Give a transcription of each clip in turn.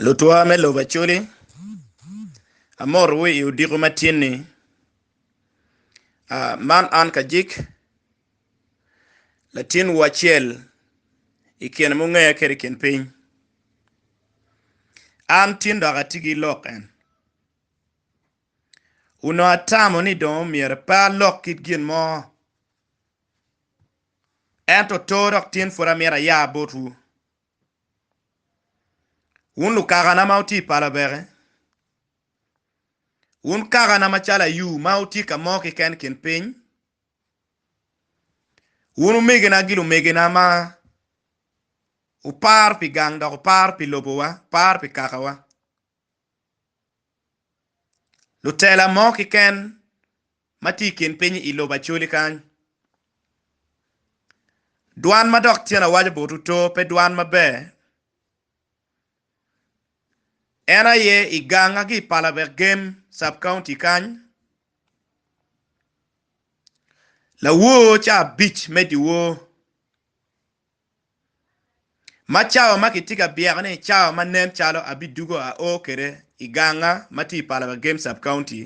Lutwa me lobo Acholi, amotowu i odiko ma tyenni. Man an Kajik, latinwu acel i kine mungeya kwede i kin piny. An tin dok atye ki lok en. Onongo atamo ni dong myero pe alok kit gin mo, ento oto dok tin pud amito aya botwu. Wun lukakana ma wutye i pala Obeke, wun kakana macalo ayu ma wutye ka mo keken i kin piny, wun omegina ki lumegina ma wupar pi gang dok wupar pi lobowa, wupar pi kakawa. Lutela mo kiken ma tye i kin piny i lobo Acholi kany. Dwan ma dok tyen awaco botwu to pe dwan maber. En aye i ganga ki i Palabek Gem sub county kany. Lawor ca abic me dyewor. Ma cawa ma kitye ka byeko ni cawa ma nen calo abidugo a o kwede i ganga ma tye i pala pa Game Sub County.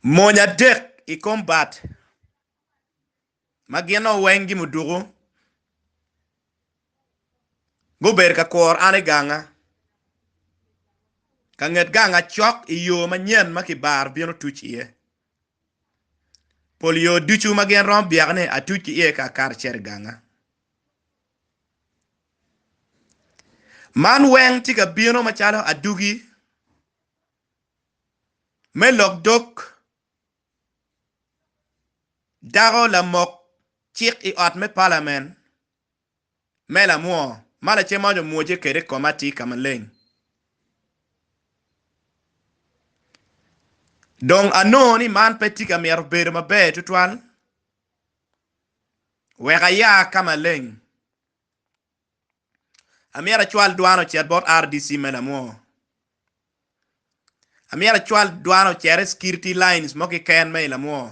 Mony adek i kom bat ma gin nongo weng gimuduku gubedo ka kwor an i ganga. Ka nget ganga cok i yo manyen ma kibaro bino tuc iye. Pol yo ducu ma gin romo byekone atuc ki iye ka akato acito i ganga. Man weng tye ka bino macalo adugi me lok dog dako lamok cik i ot me palamen. me lamwoo ma lacemoni omwoce kwede i koma atir ka maleng. Dong anongo ni man pe tye ka mito bedo maber tutwal wek aya ka maleng. Amyero acwal dwana ocit bot RDC me lamwoo. Amyero acwal dwana ocit i security lines mo kiken me i lamwoo.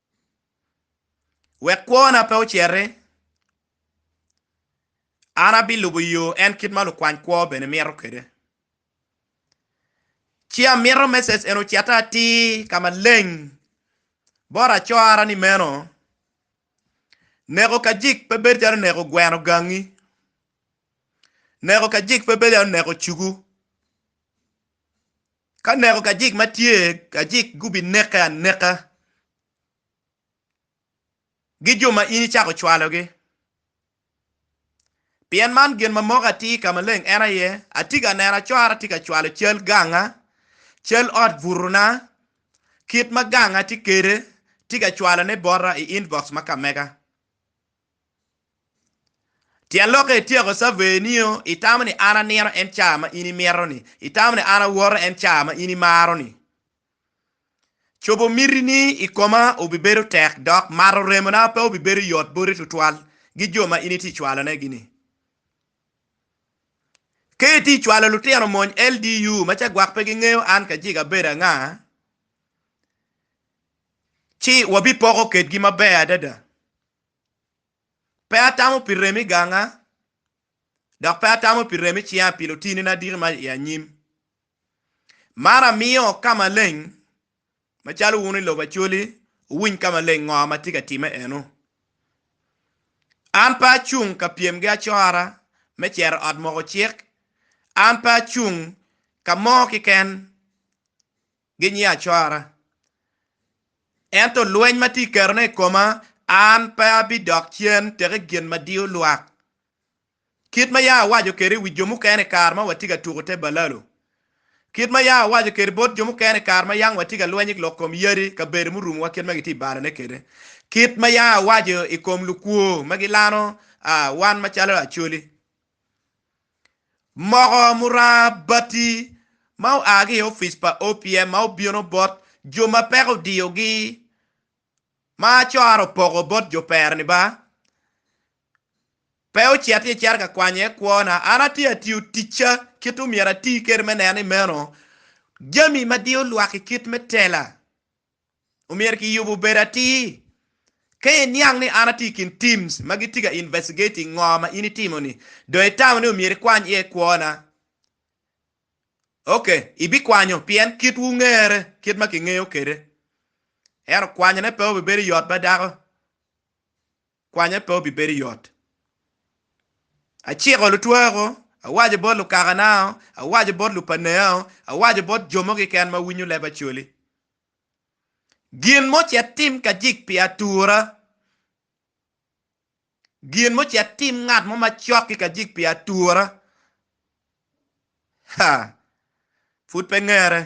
wek kwona pe ocere. An abilubo yo en kit ma lukwany kwo bene mito kwede. Ci amito me Cecen ocita atir ka maleng bot acora ni meno, Neko ka jik pe bedo calo neko gweno gangi, neko ka jik pe bedo calo neko cugu. Ka neko kajik ma tye, kajik gubineke aneka, gi jo ma in icako cwalogi. Pien man gin ma moko atir i ka maleng en aye, atye ka neno acora tye ka cwalo cal ganga, cal ot butona, kit ma ganga tye kwede, tye ka cwalone bota i inbox ma ka mega. Tyen lok ka ityeko caveni-o, itamo ni an anino en ca ma in imito-ni? Itamo ni an awoto en ca ma in imaro-ni? Cobo mitini i koma obibedo tek dok mato remona pe obibedo yot boti tutwal gi jo ma in itye cwalonegi-ni? Ka itye cwalo lutino mony LDU ma ca gwok pe gingeyo an Kajiga abedo anga, ci wabipoko kedgi maber adada. Pe atamo pi rem i ganga, dok pe atamo pi rem i cinga pi lutinina adiki ma i anyim. Mar amiyo ka maleng, macalo wun i lobo Acholi wuwiny ka maleng ngo ma tye ka timme eno. An pe acung ka pyem gi acora me cito i ot moko cik, an pe acung ka mo kiken. Ginyiya acwara. Ento lweny ma tye i kerone i koma, an pe abidok cen tek i gin ma diyo lwak. Kit ma yam awaco kwede i wi jo mukene i kare ma watye ka tuko te balalo, kit ma yam awaco kwede bot jo mukene i kare ma yang watye ka lweny i lok kom yadi i kabedo murumowa kit ma gitye i balane kwede, kit ma yam awaco i kom lukwo ma gilano wan macalo acholi. Moko muranga bati ma oa ki i opic pa OPM ma obino bot jo ma peko odiyogi ma cora opoko bot jo pere-ni ba pe ocit ci ecito ka kwanyo iye kwona. An atye ka tiyo ticca kit omyero ati kwede me neno ni meno jami ma diyo lwak i kit me tela. omyero kiyub obed atir. Ka iniang ni an atye i kin teams ma gitye ka investigating ngo ma in itimo ni, dong itamo ni omyero ikwany iye kwona? Ok, ibikwanyo pien kitwu ngere kit ma kingeyo kwede. Ento kwanyone pe obibedo yot ba dako. kwanya pe obibedo yot. Aciko lutwako, awaco bot lukakanao, awaco bot lupaneao, awaco bot jo mo kiken ma winyo leb Acholi. Gin mo ci atim ka jik pi atura, gin mo ci atim ngat mo macok ki ka jik pi atura. Ha! Pud pe ngere.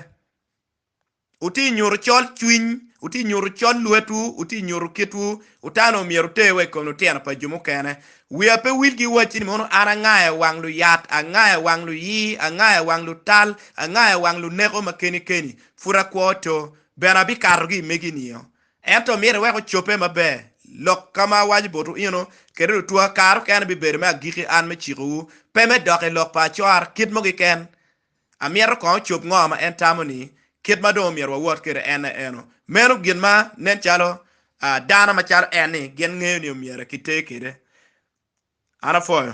Wutye ka nyuto col cwiny, wutye ka nyuto col lwetwu, wutye ka nyuto kitwu. Utano myero oter wa i kom lutino pa jo mukene. Wiya pe wil ki wacci ni mono an anga i wang luyat, anga i wang luyii, anga i wang lutal, anga i wang luneko ma keni keni. Pud akwo to, bene abikato ki i megi nio. Ento myero iwek ocobbe maber, lok ka ma awaco botwu eno, kede lutwa, kare okene bibedo me agikki an me cikowu, pe me dok i lok pa acor kit mo keken, Amyero kong ocob ngo ma en tamo ni kit ma dong omyero wawot kwede en aye eno. Meno gin ma nen calo dano ma calo en ni gin ngeyo ni omyero ki ter kwede. An apwoyo.